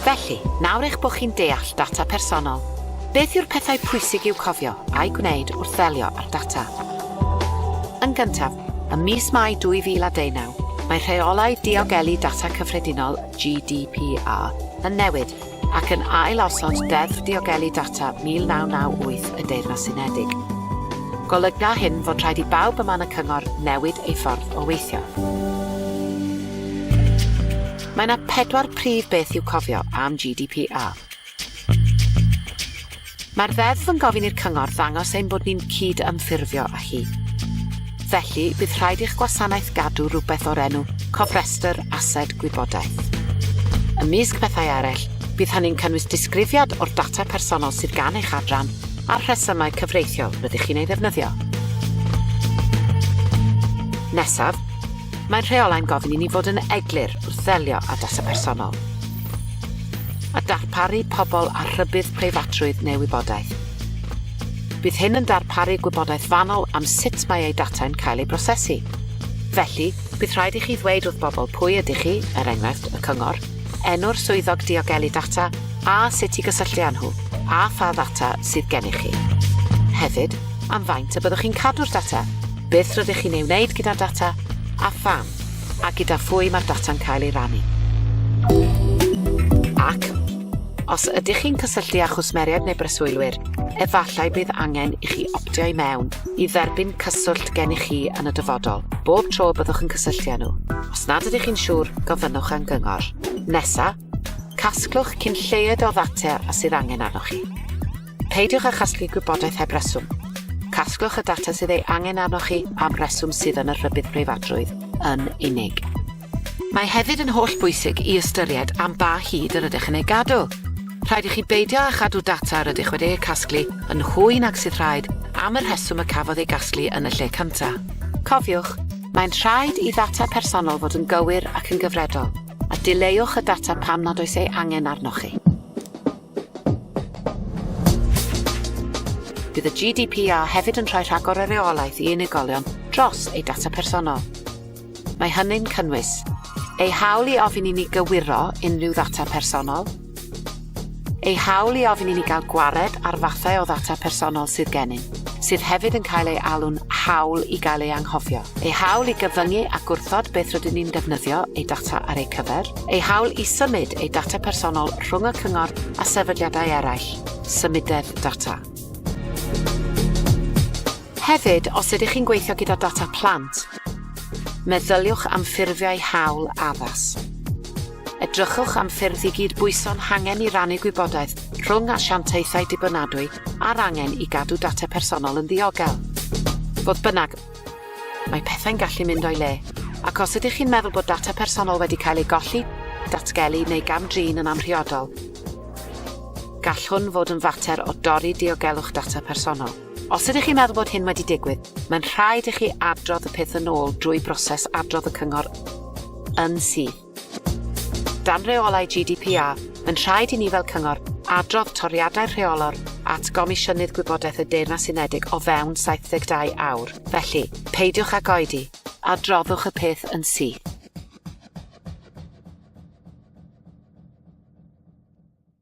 Felly, nawr eich bod chi'n deall data personol, beth yw'r pethau pwysig i'w cofio a'i gwneud wrth ddelio â'r data? Yn gyntaf, ym mis Mai 2019, mae Rheolau Diogelu Data Cyffredinol GDPR, yn newid ac yn ail-osod Deddf Diogelu Data 1998 y Deyrnas Unedig. Golyga hyn fod rhaid i bawb yma yn y Cyngor newid ei ffordd o weithio. Mae yna pedwar prif beth i'w cofio am GDPR. Mae'r Ddeddf yn gofyn i'r Cyngor ddangos ein bod ni'n cyd-ymffurfio â hi. Felly, bydd rhaid i'ch gwasanaeth gadw rhywbeth o'r enw Cofrestr Ased Gwybodaeth. Ymysg pethau eraill, bydd hynny'n cynnwys disgrifiad o'r data personol sydd gan eich adran a'r rhesymau cyfreithiol rydych chi'n ei ddefnyddio. Nesaf, Mae'r rheolau'n gofyn i ni fod yn eglur wrth ddelio â data personol. a darparu pobl â rhybudd preifatrwydd neu wybodaeth. Bydd hyn yn darparu gwybodaeth fanwl am sut mae eu datau'n cael eu prosesu. Felly, bydd rhaid i chi ddweud wrth bobl pwy ydych chi, er enghraifft, y cyngor, enw'r swyddog diogelu data a sut i gysylltu â nhw, a pha ddata sydd gennych chi. Hefyd, am faint y byddwch chi'n cadw'r data, beth rydych chi'n ei wneud gyda'r data, a pham. A gyda phwy mae'r data'n cael ei rannu? Ac os ydych chi'n cysylltu â chwsmeriaid neu breswylwyr, efallai bydd angen i chi optio i mewn i dderbyn cyswllt gennych chi yn y dyfodol, bob tro byddwch yn cysylltu â nhw. Os nad ydych chi'n siŵr, gofynnwch am gyngor. Nesa, casglwch cyn lleied o ddata a sydd angen arnoch chi. Peidiwch â chasglu gwybodaeth heb reswm. Casglwch y data sydd ei angen arnoch chi am reswm sydd yn y Rhybudd Preifatrwydd yn unig. Mae hefyd yn holl bwysig i ystyried am ba hyd yr ydych yn ei gadw. Rhaid i chi beidio â chadw data yr ydych wedi ei casglu yn hwy nag sydd rhaid am y rheswm y cafodd ei gasglu yn y lle cyntaf. Cofiwch, mae'n rhaid i ddata personol fod yn gywir ac yn gyfredol, a dileuwch y data pam nad oes ei angen arnoch chi. Bydd y GDPR hefyd yn rhoi rhagor o reolaeth i unigolion dros eu data personol. Mae hynny'n cynnwys eu hawl i ofyn i ni gywiro unrhyw ddata personol, eu hawl i ofyn i ni gael gwared ar fathau o ddata personol sydd gennym, sydd hefyd yn cael ei alw'n hawl i gael ei anghofio, eu hawl i gyfyngu a gwrthod beth rydyn ni'n defnyddio eu data ar eu cyfer, eu hawl i symud eu data personol rhwng y Cyngor a sefydliadau eraill, symudedd data. Hefyd, os ydych chi'n gweithio gyda data plant, meddyliwch am ffurfiau hawl addas. Edrychwch am ffyrdd i gyd-bwyso'n hangen i rannu gwybodaeth rhwng asiantaethau dibynadwy a'r angen i gadw data personol yn ddiogel. Fodd bynnag, Mae pethau'n gallu mynd o'i le, ac os ydych chi'n meddwl bod data personol wedi cael ei golli, datgelu neu gam-drin yn amhriodol, gall hwn fod yn fater o dorri diogelwch data personol. Os ydych chi'n meddwl bod hyn wedi digwydd, mae'n rhaid i chi adrodd y peth yn ôl drwy broses adrodd y cyngor yn syth. Dan reolau GDPR, mae'n rhaid i ni fel cyngor adrodd toriadau'r rheolwr at Gomisiynydd Gwybodaeth y Deyrnas Unedig o fewn 72 awr. Felly, peidiwch ag oedi, adroddwch y peth yn syth.